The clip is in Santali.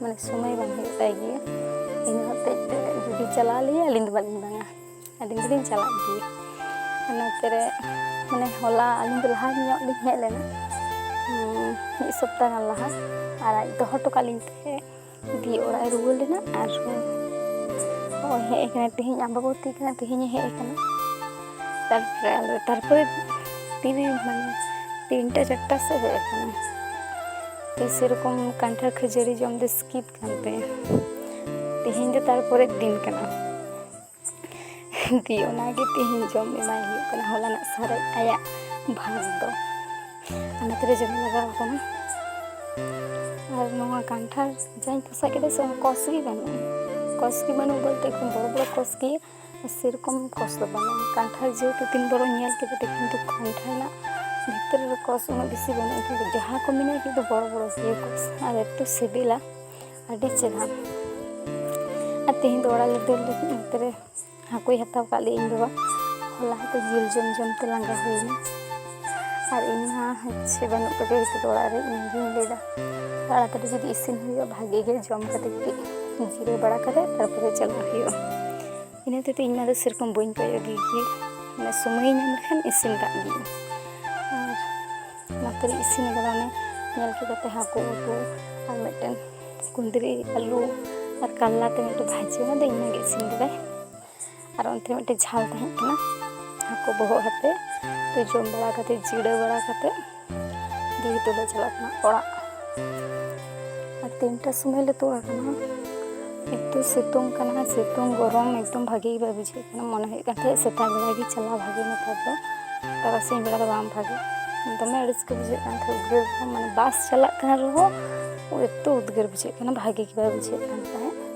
ᱢᱟᱱᱮ ᱥᱚᱢᱚᱭ ᱵᱟᱝ ᱦᱩᱭᱩᱜ ᱛᱟᱭ ᱜᱮᱭᱟ ᱤᱧ ᱦᱚᱛᱮᱡ ᱛᱮ ᱡᱩᱫᱤ ᱪᱟᱞᱟᱣ ᱞᱮᱭᱟ ᱟᱹᱞᱤᱧ ᱫᱚ ᱵᱟᱹᱞᱤᱧ ᱵᱟᱝᱟ ᱟᱹᱞᱤᱧ ᱫᱚᱞᱤᱧ ᱪᱟᱞᱟᱜ ᱜᱮᱭᱟ ᱚᱱᱟᱛᱮ ᱢᱟᱱᱮ ᱦᱚᱞᱟ ᱟᱹᱞᱤᱧ ᱫᱚ ᱞᱟᱦᱟ ᱧᱚᱜ ᱞᱤᱧ ᱦᱮᱡ ᱞᱮᱱᱟ ᱢᱤᱫ ᱥᱚᱯᱛᱟ ᱜᱟᱱ ᱞᱟᱦᱟ ᱟᱨ ᱟᱡ ᱫᱚᱦᱚ ᱦᱚᱴᱚ ᱠᱟᱜ ᱞᱤᱧ ᱛᱮ ᱫᱤᱭᱮ ᱚᱲᱟᱜ ᱮ ᱨᱩᱣᱟᱹᱲ ᱞᱮᱱᱟ ᱟᱨ ᱱᱚᱜᱼᱚᱭ ᱦᱮᱡ ᱠᱟᱱᱟ ᱛᱮᱦᱮᱧ ᱟᱢᱵᱟᱵᱚᱛᱤ ᱠᱟᱱᱟ ᱛᱮᱦᱮᱧᱮ ᱦᱮᱡ ᱠᱟᱱᱟ ᱛᱟᱨᱯᱚᱨᱮ ᱟᱞᱮ ᱛᱟᱨᱯᱚᱨᱮ ᱛᱤᱱᱨᱮ ᱢᱟᱱᱮ ᱛᱤᱱᱴᱟ ᱪᱟᱨᱴᱟ ᱥᱮᱫ ᱦᱮᱡ ᱠᱟᱱᱟ ᱥᱮᱨᱚᱠᱚᱢ ᱠᱟᱱᱴᱷᱟᱲ ᱠᱷᱟᱹᱡᱟᱹᱲᱤ ᱡᱚᱢ ᱫᱚ ᱥᱠᱤᱯ ᱠᱟᱱ ᱛᱟᱭᱟ ᱛᱮᱦᱮᱧ ᱫᱚ ᱛᱟᱨᱯᱚᱨᱮ ᱫᱤᱱ ᱠᱟᱱᱟ ᱫᱤᱭᱮ ᱚᱱᱟᱜᱮ ᱛᱮᱦᱮᱧ ᱡᱚᱢ ᱮᱢᱟᱭ ᱦᱩᱭᱩᱜ ᱠᱟᱱᱟ ᱦᱚᱞᱟᱱᱟᱜ ᱥᱟᱨᱮᱡ ᱟᱭᱟᱜ ᱵᱷᱟᱜᱽ ᱫᱚ ᱚᱱᱟ ᱛᱮᱞᱮ ᱡᱚᱢ ᱞᱟᱜᱟᱣ ᱟᱠᱟᱱᱟ ᱟᱨ ᱱᱚᱣᱟ ᱠᱟᱱᱴᱷᱟᱲ ᱡᱟᱧ ᱯᱚᱥᱟᱜ ᱠᱮᱫᱟ ᱥᱮ ᱠᱚᱥ ᱜᱮ ᱵᱟᱹᱱᱩᱜᱼᱟ ᱠᱚᱥ ᱜᱮ ᱵᱟᱹᱱᱩᱜ ᱵᱚᱞᱛᱮ ᱮᱠᱫᱚᱢ ᱵᱚᱲᱚ ᱵᱚᱲᱚ ᱠᱚᱥ ᱜᱮ ᱥᱮᱨᱚᱠᱚᱢ ᱠᱚᱥ ᱫᱚ ᱵᱟᱹᱱᱩᱜᱼᱟ ᱠᱟᱱᱴᱷᱟᱲ ᱡᱮᱦᱮᱛᱩ ᱛᱤᱱ ᱵᱚᱨᱚ ᱧᱮᱞ ᱠᱮᱫᱟ ᱠᱤᱱᱛᱩ ᱠᱟᱱᱴᱷᱟᱲ ᱨᱮᱱᱟᱜ ᱵᱷᱤᱛᱨᱤ ᱨᱮ ᱠᱚᱥ ᱩᱱᱟᱹᱜ ᱵᱮᱥᱤ ᱵᱟᱹᱱᱩᱜᱼᱟ ᱠᱤᱱᱛᱩ ᱡᱟᱦᱟᱸ ᱠᱚ ᱢᱮᱱᱟᱜᱼᱟ ᱠᱤᱱᱛᱩ ᱵᱚᱲᱚ ᱵᱚᱲᱚ ᱜᱮᱭᱟ ᱠᱚᱥ ᱟᱨ ᱮᱛᱚ ᱥᱤᱵᱤᱞᱟ ᱟᱹᱰᱤ ᱪᱮᱦᱨᱟ ᱟᱨ ᱛᱮᱦᱮᱧ ᱫᱚ ᱚᱲᱟᱜ ᱞᱮ ᱫᱟᱹᱲ ᱞᱟᱹᱜᱤᱫ ᱚᱱᱛᱮ ᱨᱮ ᱦᱟᱹᱠᱩᱭ ᱦᱟᱛᱟᱣ ᱠᱟᱜ ᱞᱮᱭᱟ ᱤᱧ ᱵᱟᱵᱟ ᱦᱚᱞᱟ ᱦᱚᱸᱛᱚ ᱡᱤᱞ ᱡᱚᱢ ᱡᱚᱢ ᱛᱮ ᱞᱟᱸᱜᱟ ᱦᱩᱭᱱᱟ ᱟᱨ ᱤᱧ ᱢᱟ ᱦᱚᱪᱪᱷᱮ ᱵᱟᱹᱱᱩᱜ ᱠᱟᱫᱮ ᱱᱤᱛᱚᱜ ᱫᱚ ᱚᱲᱟᱜ ᱨᱮ ᱤᱧ ᱜᱤᱧ ᱞᱟᱹᱭᱫᱟ ᱛᱟᱲᱟᱛᱟᱲᱤ ᱡᱩᱫᱤ ᱤᱥᱤᱱ ᱦᱩᱭᱩᱜᱼᱟ ᱵᱷᱟᱜᱮ ᱜᱮ ᱡᱚᱢ ᱠᱟᱛᱮ ᱠᱟᱹᱴᱤᱡ ᱡᱤᱨᱟᱹᱣ ᱵᱟᱲᱟ ᱠᱟᱛᱮ ᱛᱟᱨᱯᱚᱨᱮ ᱪᱟᱞᱟᱜ ᱦᱩᱭᱩᱜᱼᱟ ᱤᱱᱟᱹ ᱦᱚᱛᱮᱡ ᱛᱮ ᱤᱧ ᱢᱟ ᱫᱚ ᱥᱮᱨᱚᱠᱚᱢ ᱵᱟᱹᱧ ᱠᱚᱭᱚᱜ ᱜᱮ ᱜᱮ ᱢᱟᱱᱮ ᱥᱚᱢᱚᱭ ᱧᱟᱢ ᱞᱮᱠᱷᱟᱱ ᱤᱥᱤᱱ ᱠᱟᱜ ᱜᱤᱧ ᱟᱨ ᱱᱚᱛᱮ ᱨᱮ ᱤᱥᱤᱱ ᱠᱟᱫᱟ ᱚᱱᱮ ᱧᱮᱞ ᱠᱮᱫᱟᱯᱮ ᱦᱟᱹᱠᱩ ᱩᱛᱩ ᱟᱨ ᱢᱤᱫᱴᱮᱱ ᱠᱩᱸᱫᱽᱨᱤ ᱟᱹᱞᱩ ᱟᱨ ᱠᱟᱞᱞᱟ ᱛᱮ ᱢᱤᱫᱴᱮᱱ ᱵᱷᱟᱡᱟ ᱚᱱᱟ ᱫᱚ ᱤᱧ ᱢᱟᱜᱮ ᱤᱥᱤᱱ ᱠᱟᱫᱟᱭ ᱟᱨ ᱚᱱᱛᱮ ᱢᱤᱫᱴᱮᱱ ᱡᱷᱟᱞ ᱛᱟᱦᱮᱸ ᱠᱟᱱᱟ ᱦᱟᱹᱠᱩ ᱵᱚᱦᱚᱜ ᱦᱟᱛᱮ ᱛᱚ ᱡᱚᱢ ᱵᱟᱲᱟ ᱠᱟᱛᱮ ᱡᱤᱨᱟᱹ ᱵᱟᱲᱟ ᱠᱟᱛᱮ ᱫᱤᱭᱮ ᱫᱚᱞᱮ ᱪᱟᱞᱟᱜ ᱠᱟᱱᱟ ᱚᱲᱟᱜ ᱟᱨ ᱛᱤᱱᱴᱟ ᱥᱚᱢᱚᱭ ᱞᱮ ᱛᱩᱫ ᱟᱠᱟᱱᱟ ᱮᱠᱴᱩ ᱥᱤᱛᱩᱝ ᱠᱟᱱᱟ ᱥᱤᱛᱩᱝ ᱜᱚᱨᱚᱢ ᱮᱠᱫᱚᱢ ᱵᱷᱟᱜᱮ ᱜᱮ ᱵᱟᱭ ᱵᱩᱡᱷᱟᱹᱜ ᱠᱟᱱᱟ ᱢᱚᱱᱮ ᱦᱩᱭᱩᱜ ᱠᱟᱱ ᱛᱟᱦᱮᱸᱫ ᱥᱮᱛᱟᱜ ᱵᱮᱲᱟ ᱜᱮ ᱪᱟᱞᱟᱣ ᱵᱷᱟᱜᱮ ᱱᱮᱛᱟᱨ ᱫᱚ ᱛᱟᱨᱟᱥᱤᱧ ᱵᱮᱲᱟ ᱫᱚ ᱵᱟᱝ ᱵᱷᱟᱜᱮ ᱫᱚᱢᱮ ᱟᱹᱲᱤᱥ ᱜᱮ ᱵᱩᱡᱷᱟᱹᱜ ᱠᱟᱱ ᱛᱟᱦᱮᱸᱫ ᱩᱫᱽᱜᱟᱹᱨ ᱢᱟᱱᱮ ᱵᱟᱥ ᱪᱟᱞᱟᱜ ᱠᱟᱱ ᱨᱮᱦᱚᱸ ᱮᱠᱴᱩ ᱩᱫᱽᱜᱟᱹᱨ ᱵᱩᱡᱷᱟᱹᱜ ᱠᱟᱱᱟ ᱵᱷᱟᱜᱮ ᱜᱮ ᱵᱟᱭ ᱵᱩᱡᱷᱟᱹᱜ ᱠᱟᱱ ᱛᱟᱦᱮᱸᱫ